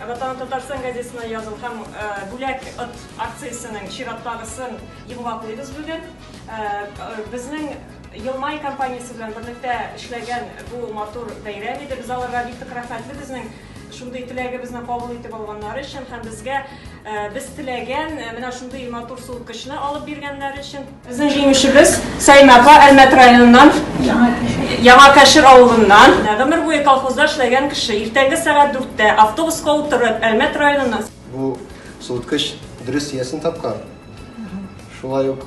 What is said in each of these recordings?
Ватан Татарстан газетасына язылган бүләк от акциясенең чираттагысын йомгаклыйбыз бүген. Безнең Елмай компаниясе белән берлектә эшләгән бу матур бәйрәм иде. Без аларга бик тә рәхмәтле безнең шундый теләгебезне кабул итеп алганнары өчен һәм безгә без теләгән менә шундый матур суыткычны алып биргәннәре өчен. Безнең җиңүчебез Саимә апа Әлмәт районыннан, Яңа Кәшер авылыннан. Гомер буе колхозда эшләгән кеше, иртәнге сәгать дүрттә автобуска утырып, Әлмәт районыннан. Бу суыткыч дөрес иясен тапкан. Шулай ук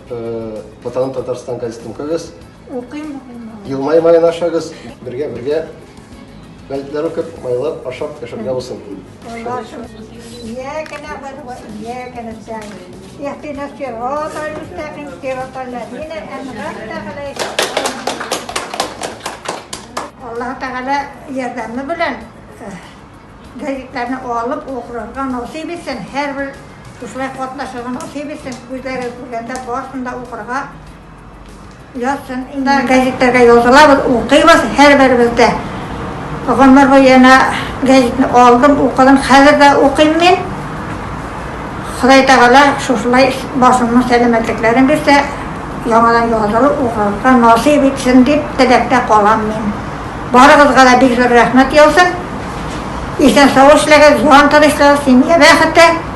Ватаным Татарстан газетын укыгыз. Укыйм, укыйм. Елмай-май гына ашагыз. Бергә-бергә газетләр укып, майлап, ашап яшәргә булсын. Аллаһы Тәгалә ярдәме белән газетларны алып укырга насыйп итсен, һәрбер шулай катнашырга насыйп итсен, күзләре күргәндә барсын да укырга Яз чынында гәзитләргә язылабыз, укыйбыз һәрберебез дә. Гомер буе янә гәзитне алдым, укыдым, хәзер дә укыйм мин. Ходай Тәгалә шушылай башымның сәламәтлекләрен бирсә, яңадан язылып укырга насыйп итсен дип теләктә калам мин. Барыгызга да бик зур рәхмәт яусын. Исән-сау эшләгез, җан тынычлыгы, семья бәхете.